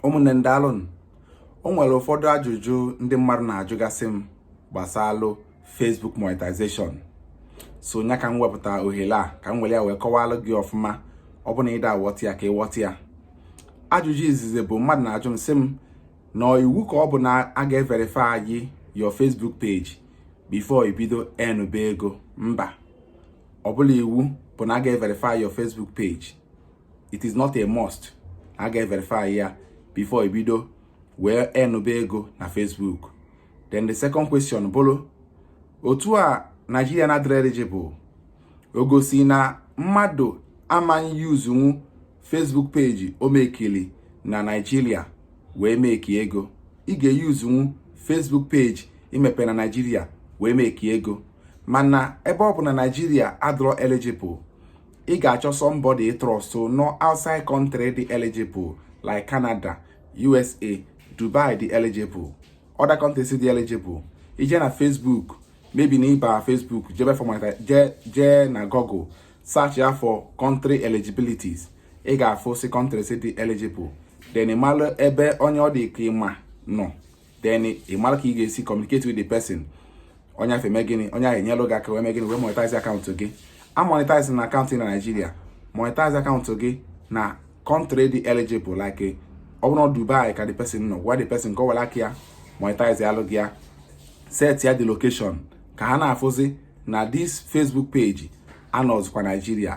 ụmụnne m daalụnụ o nwere ụfọdụ ajụjụ ndị mmadụ na-ajụgasị m gbasalụ Facebook monetization so nya ka m wepụta ohere a ka m were ya wee kọwalụ gị ọfụma ọ bụ na ị da-awọta ya ka ị wọta ya ajụjụ izizi bụ mmadụ na-ajụ m sị m na ọ iwu ka ọ bụ na a ga-everify your Facebook page before i bido enụbe ego mba ọ bụrọ iwu bụ na a ga-everify your Facebook page it is not a must a ga-everify ya before i bido wee enụbe ego na Facebook then the second question bụrụ otu a Nigeria na-adịrọ eligible o gosi na mmadụ ama yuzunwu Facebook page o mekili na Nigeria wee meki ego ị ga-eyuzunwu Facebook page i mepe na Nigeria wee meki ego mana ebe ọ bụ na Nigeria adịrọ eligible ị ga-achọ somebody ị trust nọ outside country dị eligible like Canada USA Dubai dị eligible other countries dị eligible i jee na Facebook maybe na ị ba Facebook jee ebe afụ jee na Google search ya for country eligibilities ị ga-afụsi countries dị eligible then ị malụ ebe onye ọ dị ka ị ma nọ then ị malụ ka ị ga-esi communicate with the person onye afụ eme gịnị onye ahụ enyelụ gị aka wee mee gịnị wee monetize akaụntụ gị amonetizena akaụntụ na Naịjirịa monetize akaụntụ gị na country dị eligible like ọ bụrụ Dubai ka the person nọ gwa the person ka ọ were aka ya monetize alụ gị ya setịa the location ka ha na-afụzi na this Facebook page anọzikwa Naịjirịa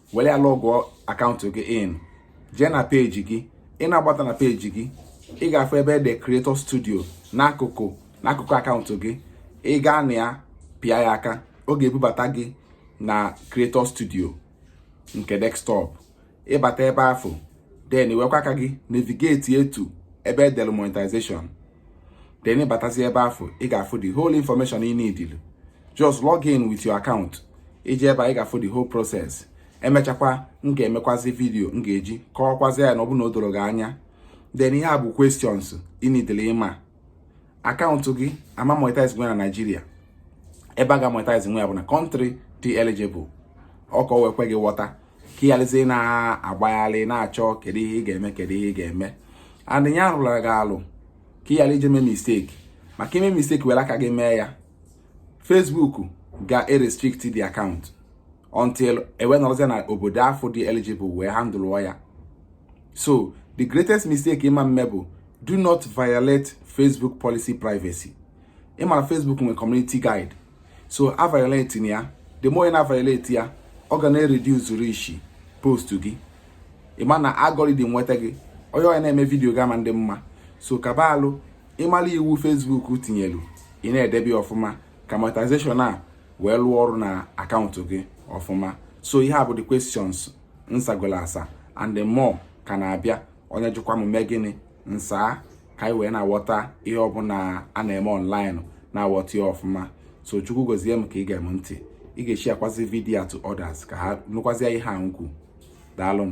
were ya lọgụọ akaụntụ gị in jee na peji gị ị na-agbata na peji gị ị ga-afụ ebe e dere creator studio n'akụkụ n'akụkụ akaụntụ gị ị gaa na ya pịa ya aka ọ ga-ebubata gị na creator studio nke desktop ị bata ebe afụ then i wekwa aka gị navigate to ebe e dere monetization then ị batazi ebe afụ ị ga-afụ the whole information ị nidili just log in with your account i jee ebe a ị ga-afụ the whole process emechakwa m ga-emekwazi vidio m ga-eji kọwakwazi ya na ọ bụ na o dorọ gị anya then ihe a bụ questions ị nidili ịma akaụntụ gị ama monetize nwu na Naịjirịa ebe a ga-monetize nwu ya bụ na country dị eligible ọ ka o wee kwe gị ghọta ka ị gharazie na-agbagharị na-achọ kedu ihe ị ga-eme kedu ihe ị ga-eme adịnya arụla gị alụ ka ị ghara ije mee misteki maka i mee misteki were aka gị mee ya Facebook ga-erestrict the account until e wee nọrọzie na obodo afụ dị eligible wee handụlụọ ya so the greatest mistake ị ma-eme bụ do not violate Facebook policy privacy ị mara Facebook nwere community guide so a violate na ya the more ị na violate ya ọ ga na-reduce reach post gị ị ma na algorithm nweta gị onye onye na-eme vidiyo ga-ama ndị mma so ga-agbalị ịmara iwu Facebook tinyelu ị na-edebe ọfụma ka monetization a wee lụọ ọrụ na akaụntụ gị ọfụma so ihe a bụ the questions m sagolu asa and the more ka na-abịa onye jụkwa m mee gịnị m saa ka anyị wee na-aghọta ihe ọbụla a na-eme ọnlaịn na-aghọta ya ọfụma so chukwu gozie maka ige m ntị ị ga-esharekwazi vidiyo a to others ka ha nụkwazie ihe a m kwu daalụ m